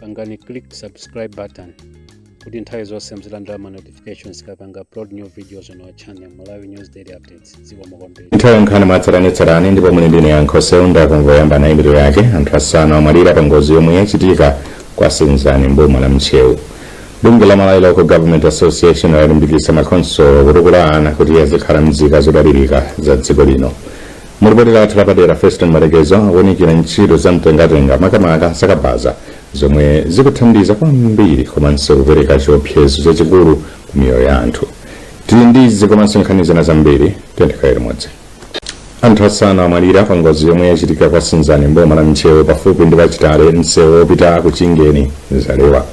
pangani click subscribe button kuti nthawi zonse muzilandira ma notifications tikapanga upload new videos on our channel malawi news daily updates dziko mokombera nthawi ya nkhani mwatsatanetsatane ndipo muli ndi ine Yankho Seunda koma poyamba nayi mitu yake anthu asanu amwalira pa ngozi yomwe yachitika kwa senzani mboma la ntcheu bungwe la malawi local government association lalimbikitsa makhonsolo kutukula ana kuti azikhala nzika zodalirika za dziko lino Mu lipoti lathu lapadera, Feston Matekeza akuunikira ntchito za mtengatenga makamaka za kabaza zomwe zikuthandiza kwambiri komanso kupereka chiopsezo chachikulu ku miyoyo ya anthu. Tili ndi izi komanso nkhani zina zambiri, tiyeni tikhale limodzi. Anthu asanu amwalira pa ngozi yomwe yachitika kwa Senzani mboma la Ntcheu pafupi ndi pa Chitale msewu wopita ku Chingeni Zalewa.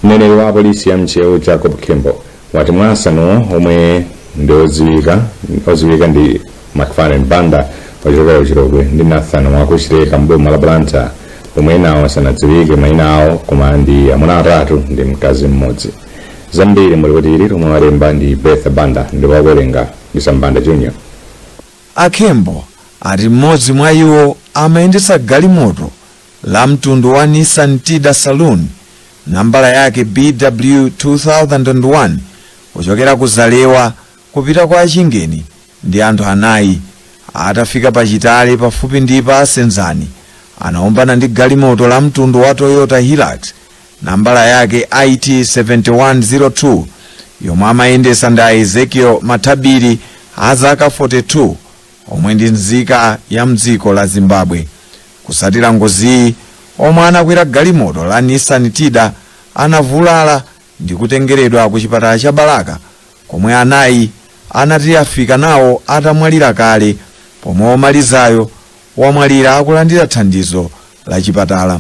Mneneri wa polisi ya Ntcheu Jacob Khembo wati mwa asanuwo omwe ndi odziwika ndi McFarlane Banda wochokera ku Chilobwe ndi Nathan wa ku Chileka mboma la Blantyre pomwe enawo sanadziwike maina awo koma ndi amuna atatu ndi mkazi mmodzi zambiri mu lipoti ili lomwe walemba ndi Bertha Banda ndipo akuwerenga ndi Sam Banda Junior A Khembo ati mmodzi mwa iwo amayendetsa galimoto la mtundu wa Nissan Tiida Saloon nambala yake BW 2001 kuchokera ku Zalewa kupita kwa Chingeni ndi anthu anayi. Atafika pa Chitale pafupi ndi pa Senzani, anaombana ndi galimoto la mtundu wa Toyota Hilux nambala yake IT 7102 yomwe amayendesa ndi a Ezekiel Mathabiri a zaka 42 omwe ndi nzika ya mdziko la Zimbabwe. Kusatira ngoziyi, omwe anakwera galimoto la Nissan Tiida anavulala ndi kutengeredwa ku chipatala cha Balaka komwe anayi anati anafika nawo atamwalira kale pomwe omalizayo wamwalira akulandira thandizo la chipatala.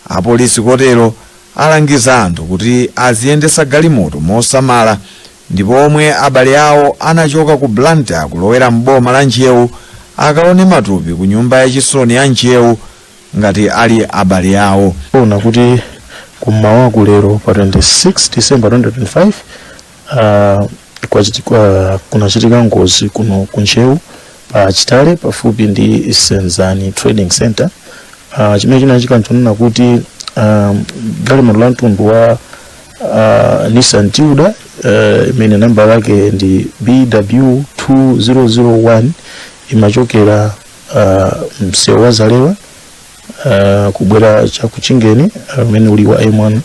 Apolisi kotero alangiza anthu kuti aziyendetsa galimoto mosamala Ndipo omwe abale awo anachoka ku Blantyre kulowera m'boma la Ntcheu akaone matupi ku nyumba ya chisoni ya Ntcheu ngati ali abale awo. Zoona kuti kum'mawaku lero pa 26 December 2025 uh, kunachitika ngozi kuno ku Ntcheu pa Chitale pafupi ndi Senzani Trading Center uh, chimene chinachitika nchonena kuti um, galimoto la mtundu wa uh, Nissan Tiida uh, imene nambala yake ndi BW 2001 imachokera uh, msewu wa Zalewa uh, kubwera cha ku Chingeni umene uh, uli wa M1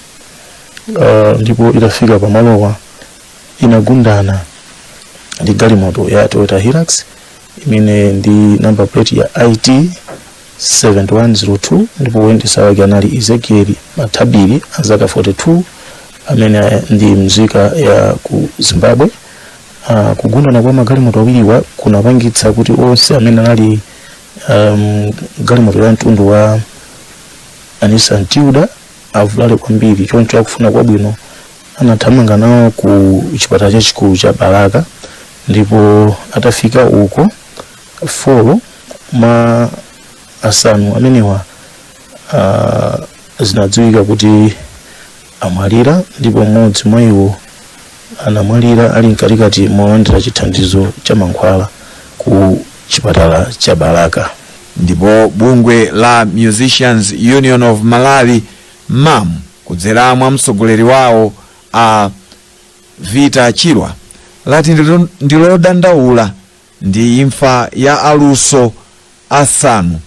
uh, ndipo itafika pamalowa inagundana ndi galimoto ya Toyota Hilux imene ndi number plate ya IT 7102 ndipo woyendetsa wake anali ezekiel mathabiri wa zaka 42 amene ndi mzika ya ku zimbabwe uh, kugundana kwa magalimoto awiriwa kunapangitsa kuti onse amene anali m'galimoto ya mtundu wa nissan tiida avulale kwambiri choncho akufuna kwabwino anathamanga nawo ku chipatala chachikulu cha balaka ndipo atafika uko 4 mwa asanu amenewa ah, zinadziwika kuti amwalira ndipo mmodzi mwa iwo anamwalira ali mkatikati molandira chithandizo cha mankhwala ku chipatala cha balaka ndipo bungwe la musicians union of malawi mum kudzera mwa mtsogoleri wawo a vita chirwa lati ndilo- ndilodandaula Ndi imfa ya aluso asanu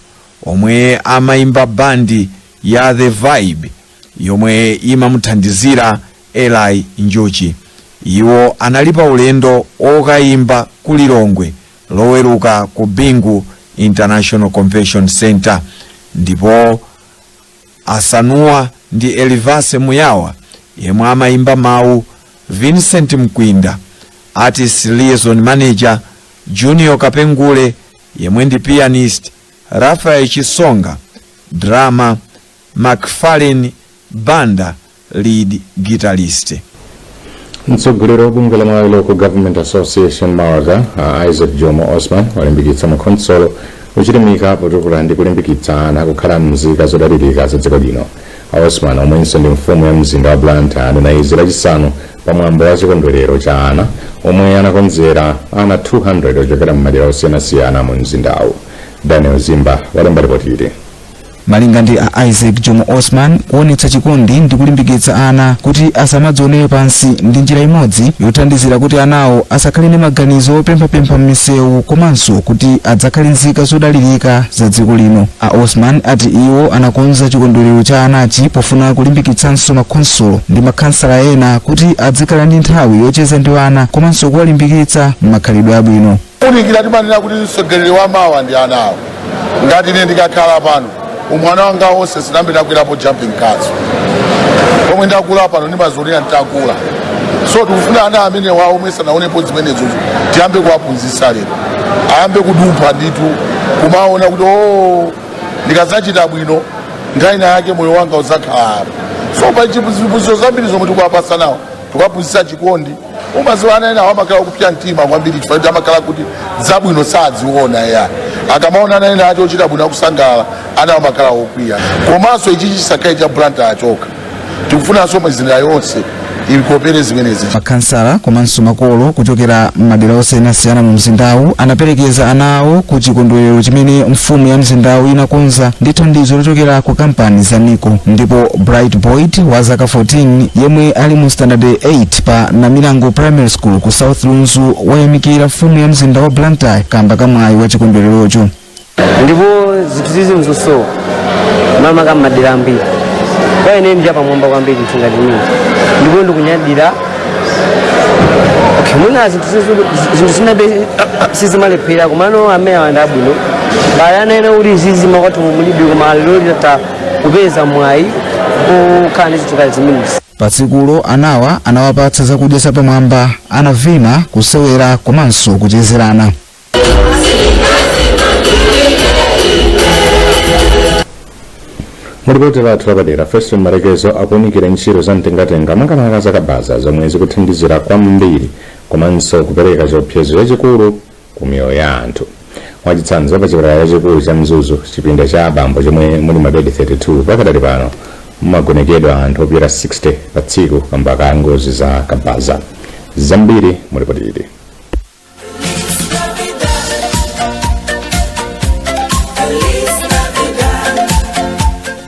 omwe amaimba band ya The Vibe yomwe imamuthandizira Eli Njuchi. Iwo anali pa ulendo okaimba ku Lilongwe loweruka ku Bingu International Convention Centre ndipo. Asanuwa ndi Elivase Muyawa yemwe amaimba mawu, Vincent Mkwinda, Artist Liaison Manager, Junior Kapengule yemwe ndi pianist, Raphael Chisonga, Drummer, MacFarlane Banda, lead guitarist. Mtsogoleri wa bungwe la Malawi Local Government Association MALGA a Isaac Jomo Osman walimbikitsa makhonsolo kuchilimika potukula ndi kulimbikitsa ana kukhala mzika zodalirika za dziko lino. A Osman omwenso ndi mfumu ya mzinda wa Blantyre anena izi lachisanu pa mwambo wa chikondwerero cha ana omwe anakonzera ana 200 ochokera m'madera osiyanasiyana mu mzindawu. Daniel Zimba walemba ripoti ili. malinga ndi a isaac jomo osman kuonetsa chikondi ndi kulimbikitsa ana kuti asamadzionere pansi ndi njira imodzi yothandizira kuti anawo asakhale ndi maganizo opemphapempha m'misewu komanso kuti adzakhale nzika zodalirika za dziko lino a osman ati iwo anakonza chikondwerero cha anachi pofuna kulimbikitsanso makhonsolo ndi makhansala ena kuti adzikhala ndi nthawi yocheza ndi ana komanso kuwalimbikitsa m'makhalidwe abwino Kuunikira timanena kuti mtsogoleri wa mawa ndi ana awo. Ngati ine ndikakhala pano, umwana wanga wonse sinambe ndakwerapo jumping castle. Pomwe ndakula pano ndimazionera nditakula. So tikufuna ana amenewawo omwe sanaonepo zimenezo tiyambe kuwaphunzitsa lero. Ayambe kudumpha ndithu kumaona kuti o ndikadzachita bwino nthawi ina yake moyo wanga udzakhala apo. So pa ziphunzitso zambiri zomwe tikuwapatsa anawo tikuwaphunzitsa chikondi umaziwa ana enawa amakhala okupsa mtima kwambiri chifukwa kuti amakhala kuti zabwino sadziona ya akamaona ana ena akuchita bwino akusangalala ana amakhala okwiya komanso ichi chisakhale cha blantyre chokha tikufunanso mizinda yonse ikopere zimenezi makhansala komanso makolo kuchokera m'madera osiyanasiyana mu mzindawu anaperekeza ana awo ku chikondwerero chimene mfumu ya mzindawu inakonza ndi thandizo lochokera ku kampani za nico ndipo bright boyd wa zaka 14 yemwe ali mu standard 8 pa Namilango Primary School ku South Lunzu wayamikira mfumu ya mzinda wa Blantyre kamba ka mwayi wa chikondwererocho. ndipo zinthu zizi nzosowa mmakamaka m'madera ambiri kwa ine ndi chapamwamba kwambiri munthu ngati ine ndipo ndikunyadira okay, mwina zinthu zizi- zinthu zinadi sizimalephera komano amene awa ndi abwino pali ana ena kuti zizi makwathu mulibe koma lero kupeza mwayi okhala ndi zinthu ngati zimenezi pa tsikulo anawa anawapatsa zakudya zapamwamba anavina kusewera komanso kuchezerana mulipoti lathu lapadera feston malekezo akuunikira ntchito za mtengatenga makamaka zakabaza zomwe zikuthandizira kwambiri komanso kupereka chiopsezo chachikulu ku miyoyo ya anthu. Mwachitsanzo, pa chipatala chachikulu cha Mzuzu, chipinda cha abambo chomwe muli mabedi 32, pakadali pano mumagonekedwa anthu opyola 60 pa tsiku kamba ka ngozi za kabaza. Zambiri mu lipoti ili.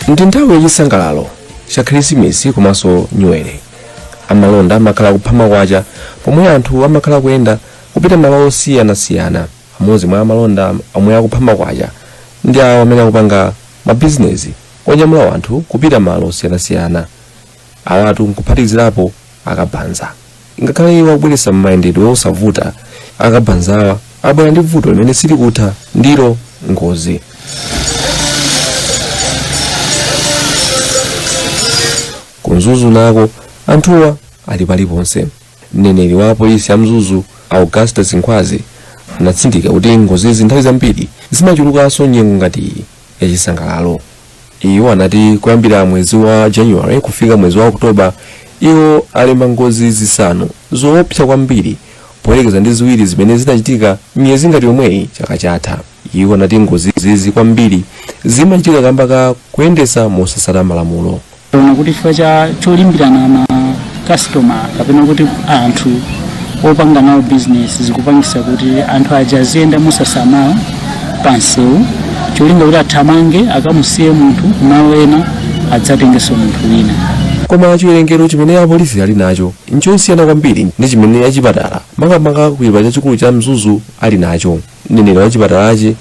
ndi nthawi yachisangalalo cha khirisimisi komanso nyuwere amalonda amakhala kupha makwacha pomwe anthu amakhala kuyenda kupita malo osiyanasiyana. Amodzi mwa amalonda omwe akupha makwacha ndi awo amene akupanga mabizinezi onyamula wanthu kupita malo osiyanasiyana. Awatu nkuphatikizirapo akabanza. Ngakhale iwo akubweretsa mayendedwe osavuta, akabanzawa abwera ndi vuto limene silikutha ndilo ngozi. Ku Mzuzu nako anthuwa ali paliponse. Mneneri wa polisi ya Mzuzu Augustus Nkhwazi anatsindika kuti ngozizi nthawi zambiri zimachulukanso nyengo ngati iyi yachisangalalo. Iwo anati kuyambira mwezi wa January kufika mwezi wa Oktoba iwo alemba ngozi zisanu zoopsa kwambiri poyerekeza ndi ziwiri zimene zinachitika miyezi ngati yomweyi chaka chatha. Iwo anati ngozi zizi kwambiri zimachitika kamba ka kuyendesa mosasata malamulo. Taona kuti chifukwa cha cholimbirana ma customer kapena kuti anthu opanga nawo business zikupangisa kuti anthu aja aziyenda mosasamala pansewu cholinga kuti athamange akamusiye munthu kumalo ena adzatengenso munthu wina koma chiwerengero chimene apolisi ali nacho nchosiyana kwambiri ndi chimene achipatala makamaka ku chipatala chachikulu cha mzuzu ali nacho mneneri wa chipatalachi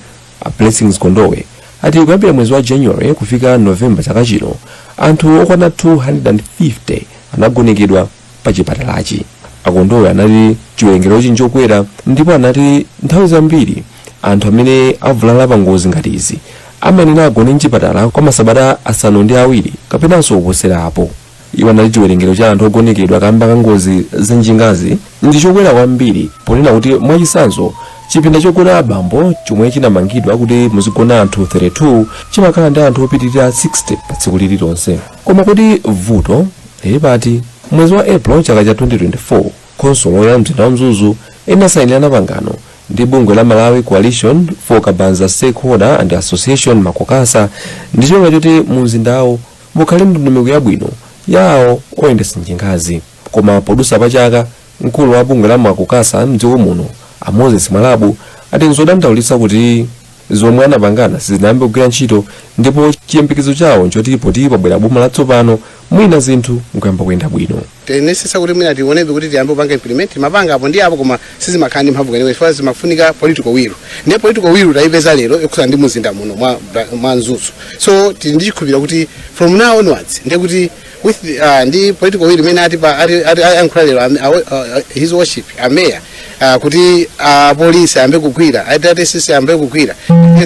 a blessings gondwe ati kuyambira mwezi wa january kufika november chaka chino anthu okwana 250 anagonekedwa pa chipatalachi a gondwe anati chiwerengerochi nchokwera ndipo anati nthawi zambiri anthu amene avulala pa ngozi ngati izi amayenera agone mchipatala kwa masabata asanu ndi awiri kapenanso kuposera apo Iwo anati chiwerengero cha anthu ogonekedwa kamba ka ngozi za njingazi ndi chokwera kwambiri ponena kuti mwachitsanzo chipinda chogona abambo chomwe chinamangidwa kuti muzigona anthu 32 chimakhala ndi anthu opitirira 60 pa tsiku lililonse. Koma kodi vuto lili pati? Mwezi wa April chaka cha 2024, khonsolo ya mzinda wa Mzuzu inasayinirana pangano ndi bungwe la Malawi Coalition for Kabaza Stakeholder and Association Makokasa ndi cholinga choti mu mzindawo Mukhale ndondomeko yabwino ya awo oyendetsa njingazi. Koma podusa pa chaka, mkulu wa bungwe la Makokasa mdziko muno, a Moses Mwalabu, ati nzodandaulitsa kuti zomwe anapangana sizinayambe kugwira ntchito ndipo chiyembekezo chawo nchoti poti pabwera boma latsopano, mwina zinthu nkuyamba kuyenda bwino. tinayesetsa kuti mwina tionebe kuti tiyambe kupanga implement timapanga apo ndi apo koma sizimakhala ndi mphamvu kwenikweni chifukwa zimafunika political will ndiye political will tayipeza lero yokhudza ndi muzinda muno mwa, mwa mzuzu so tili ndi chikhulupiriro kuti from now onwards ndiye kuti with the, uh, ndi political will imene atipa ati- ati- ayankhula lero am- awo- uh, uh, his worship ameya uh, kuti apolisi ayambe kugwira atatesisi ayambe kugwira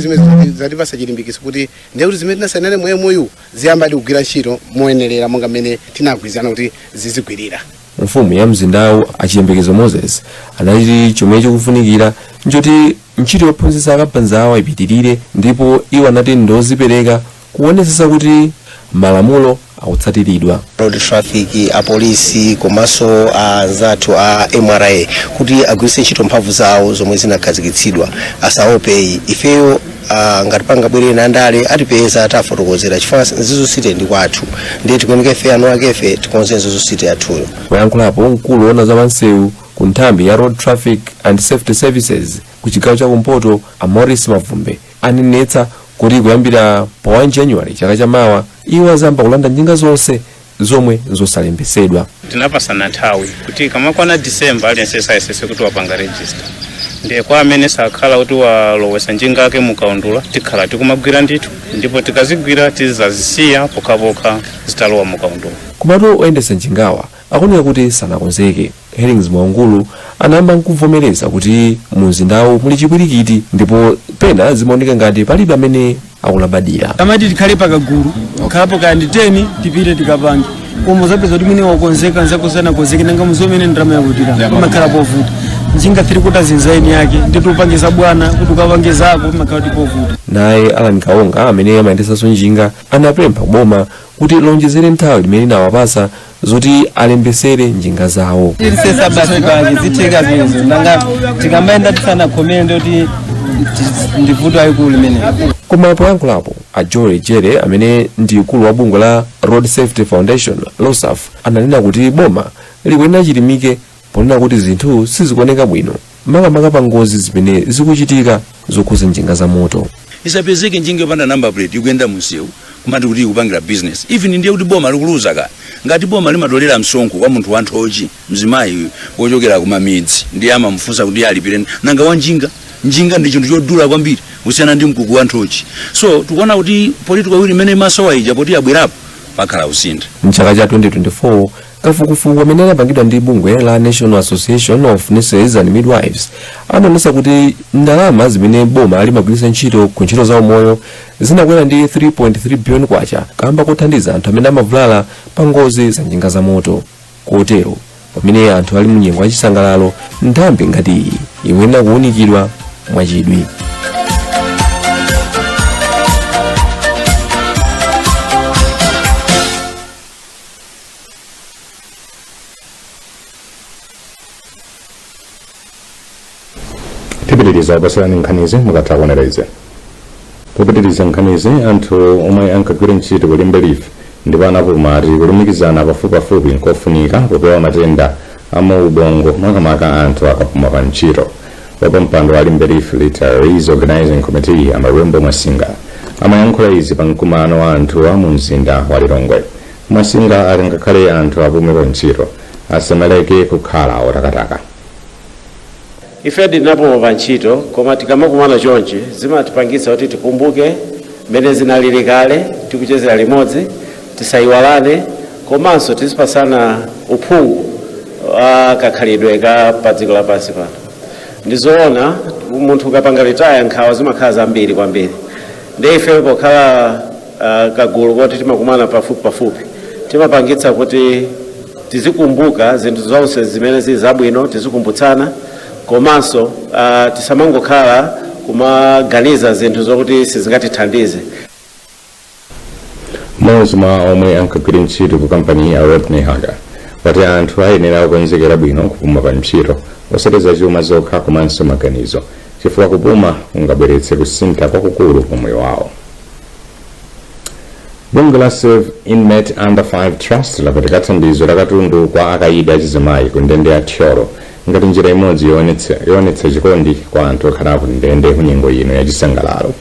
zimene zatipasa chilimbikitso kuti ndiye kuti zimene tinasainirana mou mou ziyambadi kugwira ntchito moyenerera monga mmene tinagwirizana kuti zizigwirira mfumu ya mzindawu a chiyembekezo moses anati chomwe chikufunikira nchoti ntchito yophunzitsa akabazawa ipitirire ndipo iwo anati ndozipereka kuonetsetsa kuti malamulo akutsatiridwa road traffic apolisi komanso anzathu a mra kuti agwiritse ntchito mphamvu zawo zomwe zinakhazikitsidwa asaope iyi ifeyo Ah, ngati pangabwere ena andale atipeza tiwafotokozera chifukwa mzuzu city ndi kwathu ndiye tikuyeneka ife eniakefe tikonze mzuzu city yathuyo poyankhulapo mkulu woona za pansewu ku nthambi ya road traffic and safety services ku chigawo cha kumpoto a morris mavumbe anenetsa kuti kuyambira pa 1 january chaka chamawa iwo azayamba kulanda njinga zonse zomwe nzosalembetsedwa tinapasana nthawi kuti kamakwana disemba aliyense ayesetse kuti wapanga register ndiye kwa amene asakhala kuti walowesa njinga yake mukaundula tikhala tikumagwira ndithu ndipo tikazigwira tizazisiya pokhapokha zitalowa mukaundula komatu oyendetsa njingawa akuoneka kuti sanakonzeke Hellings Mwaungulu anayamba n'kuvomereza kuti mu mzindawu muli chipwirikiti ndipo pena zimaoneka ngati palibe amene akulabadira. amati tikhale pakagulu kapena kaya ndi 10 tipite tikapange koma upeza kuti mwini wakonzeka nzako sanakonzeke nanga muzomwe ndalama yakuchepa pamakhala povuta njinga 3 kota zinzaini yake ndiye upange za bwana kuti ukapange zako pamakhala kuti povuta naye alan kaonga amene amayendetsanso njinga anapempha boma kuti lionjezere nthawi limene linawapatsa zoti alembetsere njinga zawo tirisesa basi pange zitheka zvinzo nanga tikambaenda tisana khomere ndoti ndivuto ayikulu limene koma poyankhulapo a joel jere amene ndi mkulu wa bungwe la road safety foundation rosaf ananena kuti boma likuyenera lichilimike ponena kuti zinthu sizikuoneka bwino makamaka pa ngozi zimene zikuchitika zokhudza njinga za moto isapezeke njinga yopanda number plate ikuyenda mumsewu kumati kuti ikupangira business even ndiye kuti boma likuluza ka ngati boma limatolera msonkho kwa munthu wanthochi mzimayi wochokera kumamidzi ndiye amamufunsa kuti alipire nanga wa njinga njinga ndi chinthu chodula kwambiri kusiyana ndi mkoko wanthochi so tikuona kuti political will imene imasowa ija poti yabwerapo pakhala kusintha mchaka cha 2024 kafukufuku amene anapangidwa ndi bungwe la national association of nurses and midwives anaonetsa kuti ndalama zimene boma limagwiritsa ntchito ku ntchito za umoyo zinakwera ndi 3.3 billion kwacha kaamba kothandiza anthu amene amavulala pa ngozi za njinga za moto kotero pamene anthu ali mu nyengo ya chisangalalo nthambi ngati iyi ikuyenera kuwunikidwa mwachidwi tipitiriza kupatsirani nkhanizi mukatha kuonera izi popitiriza nkhanizi anthu omwe ankagwira ntchito ku limbe leaf ndipo anapuma ati kulumikizana pafupipafupi nkofunika popewa matenda a muubongo makamaka anthu akapuma pa ntchito wapampando wa limbe leaf retirees organizing committee a malembo masinga amayankhula izi pa mkumano wa anthuwa mu mzinda wa lilongwe Masinga ati ngakhale anthu apume pa ntchito, asamaleke kukhala otakataka. Ife tinapuma pa ntchito koma tikamakumana chonchi zimatipangitsa kuti tikumbuke mmene zinalili kale tikuchezera limodzi, tisaiwalane komanso tizipatsana uphungu wa kakhalidwe ka padziko lapansi pano. Ndi zoona munthu ukapanga retire nkhawa zimakhala zambiri kwambiri ndiye ifeyo pokhala Uh, kagulu koti timakumana pafupi pafupi timapangitsa kuti tizikumbuka zinthu zonse zimene zili zabwino tizikumbutsana komanso uh, tisamangokhala kumaganiza zinthu zokuti sizingatithandize mmodzi mwa omwe ankagwira ntchito ku kampani a rodney haga wati anthu ayenera kukonzekera bwino kupuma pa ntchito osati za chuma zokha komanso maganizo chifukwa kupuma kungabweretse kusintha kwakukulu pa moyo wawo bungwe la save inmate under 5 trust lapereka thandizo la katundu kwa akaidi achizimayi ku ndende ya thyolo ngati njira imodzi yoonetsa chikondi kwa anthu okhala ku ndende ku nyengo ino ya chisangalalo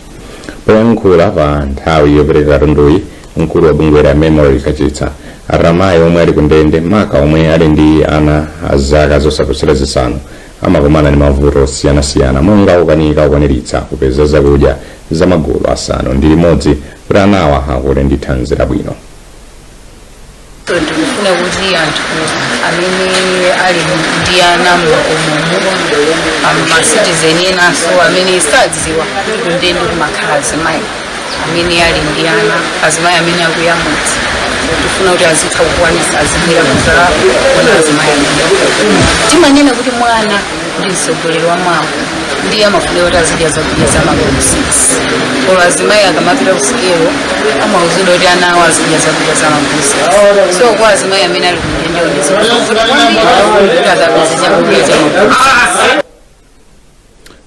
poyankhula pa nthawi yopereka katunduyi mkulu wa bungweli a memory kachitsa ati amayi omwe ali ku ndende maka omwe ali ndi ana a zaka zosaposera zisanu amakumana ndi mavuto osiyanasiyana monga kukanika kukwaniritsa kupeza zakudya za magulu asanu ndi limodzi kuti anawa akule ndi thanzi labwino. Tikufuna kuti anthu amene ali ndi ana m'makomomu amasitizeni enanso amene sakudziwa kuti kundende kumakhala azimayi amene ali ndi ana azimayi amene akuyamwitsa tifuna kuti azitha kukwanisa azibwera kuzaona azimayi amene timanena kuti mwana ndi mtsogoleri wa mawa ndiye amafunika kuti azidya zakudya za magulu 6 koma azimayi akamapita kusikelo amauzidwa kuti ana awo azidya zakudya za magulu 6 so kwa azimayi amene ali kundendeko ndizovuta kwambiri kuti akapeze chakudya cha magulu 6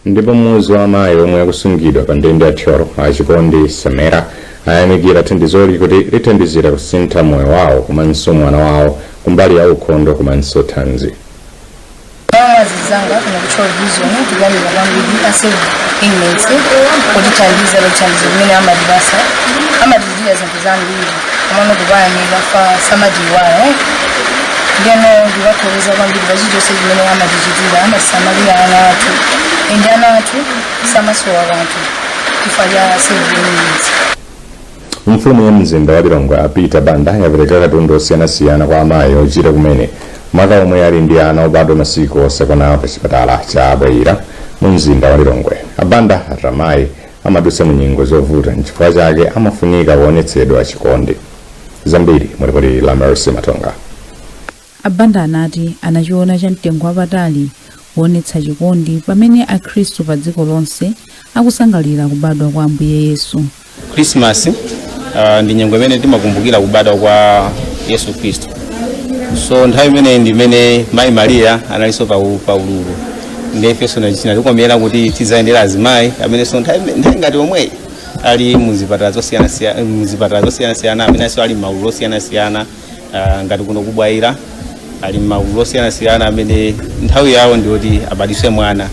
ndipo mmodzi wa amayi omwe akusungidwa pa ndende ya thyolo a chikondi samera ayamikira thandizoli kuti lithandizira kusintha moyo wawo komanso mwana wawo kumbali ya ukhondo komanso thanzi zanga kana kuchita vision kuganira kwambiri a save inmates kutithandiza thandizo limene amatipasa amatichitira zinthu zambiri komano kuwayamika kuti samatiiwala eh? ndeno ndikuthokoza kwambiri pachichonse chimene amatichitira amatisamalira ana athu ende ana athu samasowa kanthu chifukwa cha save inmates mfumu ya mzinda wa lilongwe a peter banda yapereka katundu osiyanasiyana kwa amayi ochira kumene maka omwe ali ndi ana obadwa masiku osakwana pa chipatala cha bwaila mu mzinda wa lilongwe a banda ati amayi amadutsa mu nyengo zovuta nchifukwa chake amafunika kuonetsedwa chikondi zambiri mu lipoti la mercy matonga a banda anati anachiona cha mtengo wapatali kuonetsa chikondi pamene akhristu pa dziko lonse akusangalira kubadwa kwa ambuye yesu krismasi uh, ndi nyengo imene timakumbukira kubadwa kwa yesu khristu so nthawi imeneyi ndi imene mayi mariya analinso pa u- pa ululu ndiye ifenso chinatikomera kuti tidzayendere azimayi amenenso nthawi nthawi ngati omweyi ali muzipatala zosiyanasiyana muzipatala zosiyanasiyana amenenso ali m'magulu osiyanasiyana ah, ngati kuno ku bwaila ali m'magulu osiyanasiyana amene nthawi yawo ndiyoti abadise mwana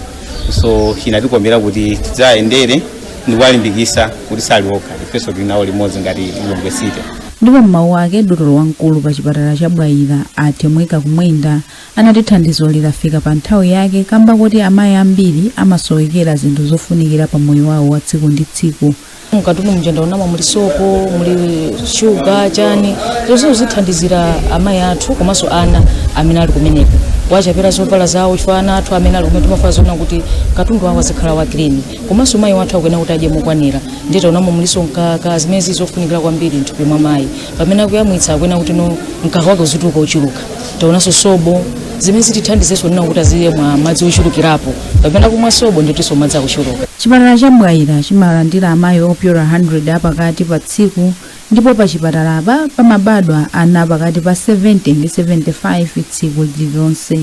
so chinatikomera kuti tidzayendere ndikuwalimbikisa kuti sali okha ifenso tili nawo limodzi ngati lilongwe city ndipo m'mawu ake dotolo wamkulu pa chipatala cha bwaila a temweka kumwenda anati thandizo lafika pa nthawi yake kamba koti amayi ambiri amasowekera zinthu zofunikira pa moyo wawo wa tsiku ndi tsiku mukatundumu ndaonamo muli sopo muli shuga chani zonse zithandizira amayi athu komanso ana amene ali kumeneko kuwachapira zovala zawo chifukwa ana athu amene ali kumene timafuna zoona kuti katundu wawo azikhala wa clean komanso mayi wathu akuyenera kuti adye mokwanira ndiye taonamo muliso mkaka zimene zili zofunikira kwambiri mthupi mwa mayi pamene akuyamwitsa akuyenera kuti no mkaka wake uzituluka wochuluka taonanso sobo zimene zitithandizenso kunena kuti azimwa madzi ochulukirapo kapena kumwa sobo ndiyetinso madzi akuchuluka chipatala cha bwaila chimalandira amayi opyola 100 apakati pa tsiku ndipo pa chipatalapa pamabadwa ana pakati pa 70 ndi 75 tsiku lililonse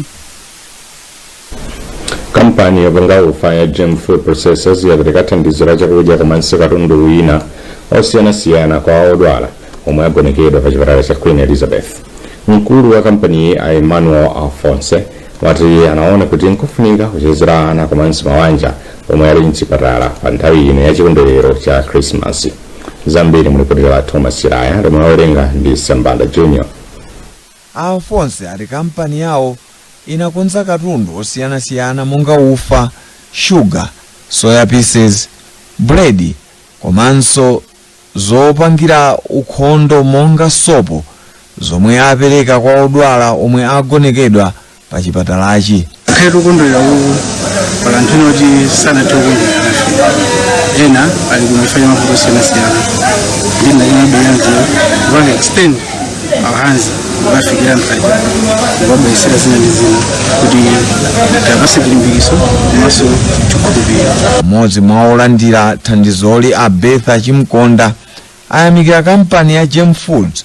kampani yopanga ufa ya gem food processors yapereka thandizo la chakudya komanso katundu wina osiyanasiyana kwa odwala omwe agonekedwa pa chipatala cha queen elizabeth mkulu wa kampaniyi a emmanuel alphonse wati anaona kuti nkofunika kuchezera ana komanso mawanja omwe ali mchipatala pa nthawi ino ya chikondwerero cha krismasi zambiri mu lipoti la thomas chiraya lomwe awerenga ndi sambanda junior A Alphonse ati kampani yawo inakonza katundu osiyanasiyana monga ufa, sugar, soya pieces, bread komanso zopangira ukhondo monga sopo zomwe apereka kwa odwala omwe agonekedwa pa chipatalachi pakhale tikukondwerera uku pali anthu ena kuti sanathe kukondwera nafe ena ali ku mifa mavuto osiyanasiyana ndiye tinabweranso kupanga extend our hands kukafikira mkati kukabweretsera zina ndi zina kuti tiwapatse chilimbikitso komanso chikhulupiriro mmodzi mwa olandira thandizoli a betha chimkonda ayamikira kampani ya gem foods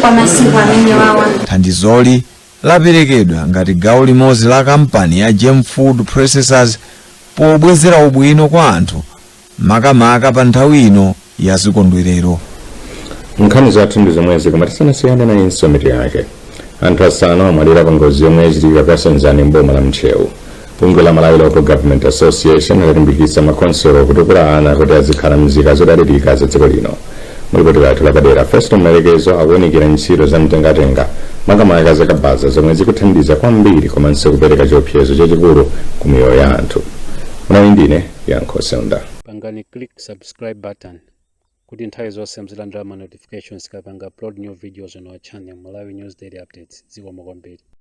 kwa masiku amenewawa thandizoli laperekedwa ngati gawo limodzi la kampani ya gem food processors pobwezera ubwino kwa anthu makamaka pa nthawi ino ya zikondwerero nkhani zathu ndi zomwezi koma tisanasiyane nayinso mitu yake anthu asanu amwalira pa ngozi yomwe yachitika kwa senzani mboma la ntcheu Bungwe la Malawi Local Government Association lalimbikitsa makhonsolo kutukula ana kuti azikhala mzika zodalirika za dziko lino. Mulipoti lathu lapadera, Festo Malekezo akuwunikira ntchito za mtengatenga makamaka za kabaza zomwe zikuthandiza kwambiri komanso kupereka chiopsezo chachikulu ku miyoyo ya anthu. Munali ndine Yankho Seunda. pangani click subscribe button kuti nthawi zonse muzilandira ma notifications tikapanga upload new videos on our channel malawi news daily updates zikomo kwambiri